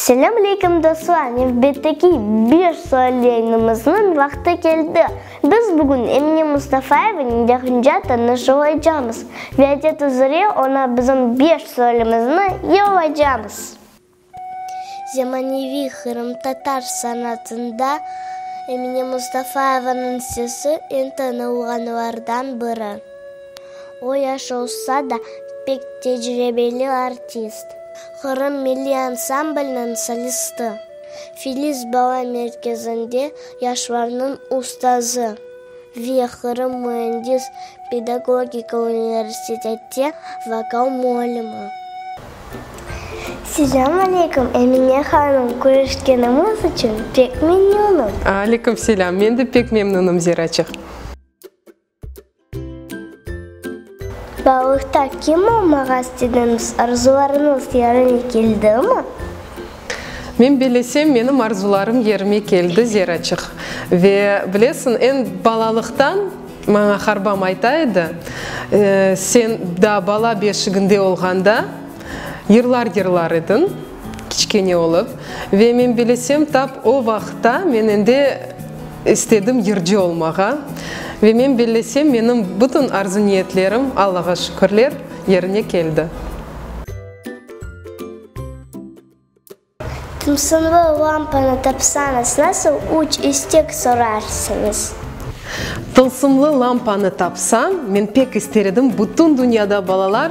Selâm aleyküm dostlar, nevbetteki beş sual yayınımıznıñ vaqtı keldi. Biz bugün Emine Mustafayevanıñ yaqınca tanışı olaycamız ve adet üzere oña bizim beş sualimizni yollaycamız. Zemaneviy qırımtatar sanatında Emine Mustafayevanıñ sesi eñ tanılğanlardan biri. O yaş olsa da, pek tecribeli artist. Qırım milliy ansambliniñ solisti, Filiz bala merkezinde yaşlarnıñ ustazı ve Qırım müendis pedagogika universiteti vokal muallimi. Selâm aleyküm, Emine hanım, körüşkenimiz içün pek memnünım. Aleyküm selâm, men de pek memnünım, Ziraçıq. Balıqta kim olmaq astediñiz? Arzularıñız yerine keldimi? Men bilesem, menim arzularım yerime keldi, Zeraçıq. Ve, bilesiñ, eñ balalıqtan maña harbam ayta edi, Sen daa bala beşiginde olğanda yırlar yırlar ediñ. Kiçkene olıp, ve men bilesem, tap o vaqıtta men endi istedim yırcı olmağa. Ve men bellesem, menim bütün arzu-niyetlerim, Allağa şükürler, yerine keldi. Tımsınlı lampanı tapsañız, nasıl üç istek sorarsıñız? Tılsımlı lampanı tapsam, men pek ister edim, bütün dünyada balalar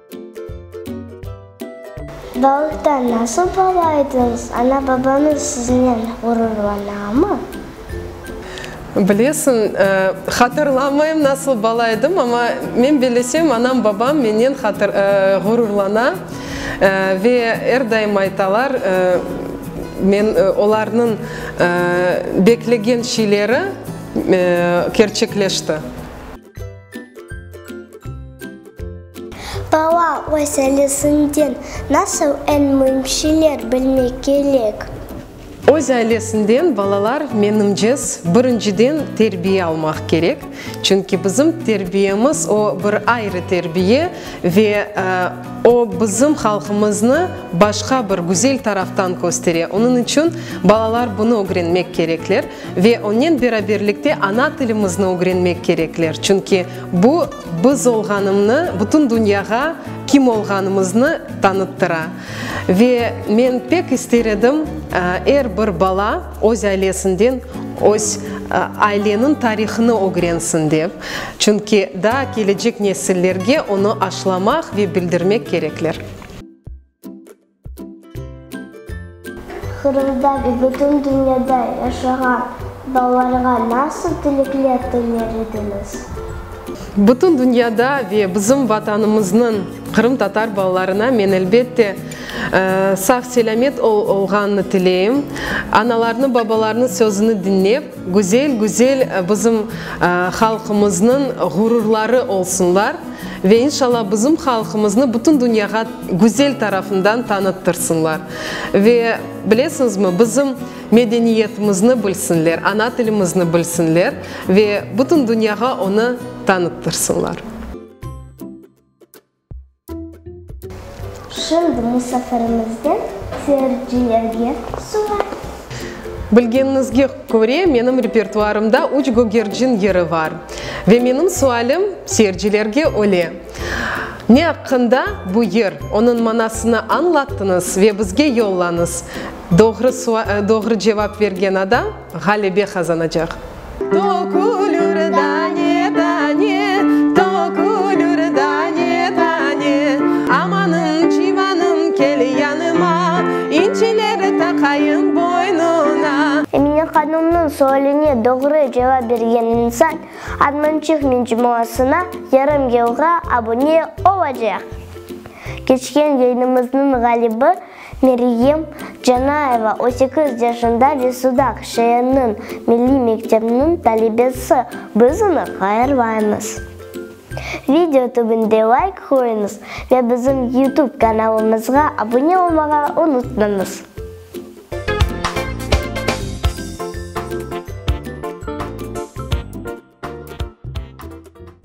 Balıqtan nasıl bala ediñiz? Ana-babañız siznen ğururlanamı? Bilesiñ, hatırlamayım nasıl bala edim, amma men bellesem, anam-babam menden ğururlana ve er daim aytalar, men olarnıñ beklegen şeyleri kerçekleşti. Bala öz ailesinden nasıl eñ müim şeyler bilmek kerek? Öz ailesinden balalar menimcez birinciden terbiye almaq kerek, çünki bizim terbiyemiz o bir ayrı terbiye ve o bizim halqımıznı başqa bir güzel taraftan köstere. Onıñ içün balalar bunı ögrenmek kerekler. Ve onnen beraberlikte ana tilimizni ögrenmek kerekler, çünki bu biz olğanımnı bütün dünyağa kim olğanımıznı tanıttıra. Ve men pek ister edim, er bir bala öz ailesinden öz aileniñ tarihını ögrensin dep, çünki daa kelecek nesillerge onı aşlamaq ve bildirmek kerekler. Qırımda ve bütün dünyada yaşağan balalarğa nasıl tilekler tiler ediñiz? Bütün dünyada ve bizim Vatanımıznıñ qırımtatar balalarına men, elbette, sağ-selâmet olğanını tileyim, analarnı-babalarnı sözüni diñlep, Güzel, güzel, bizim halqımıznıñ ğururları olsunlar ve inşallah bizim halqımıznı bütün dünyağa güzel tarafından tanıttırsınlar ve bilesiñizmi, bizim medeniyetimizni bilsinler, ana tilimizni bilsinler ve bütün dünyağa onı tanıttırsınlar. Şimdi musafirimizden seyircilerge sual. Bilgeniñizge köre, menim repertuarımda üç gögercin yeri bar. Ve menim sualim seyircilerge öyle, Ne aqqında bu yer? Onıñ manasını añlatıñız ve bizge yollañız. Doğru doğru cevap bergen adam. Ğalebe qazanacaq. Tökülür dane-dane, tökülür dane-dane, Amanım, civanım, kel yanıma, İnciler taqayım boynuna. Emine hanımnıñ sualine doğru cevap bergen insan Armançıq mecmuasına yarım yılğa abune olacaq. Keçken yayınımıznıñ ğalibi Meryem Canayeva on sekiz yaşında ve Sudaq şeeriniñ milliy mektebiniñ talebesi. Biz onı qayırmaymız. Video tübünde layk qoyuñız ve bizim YouTube kanalımızğa abune olmağa unutmañız.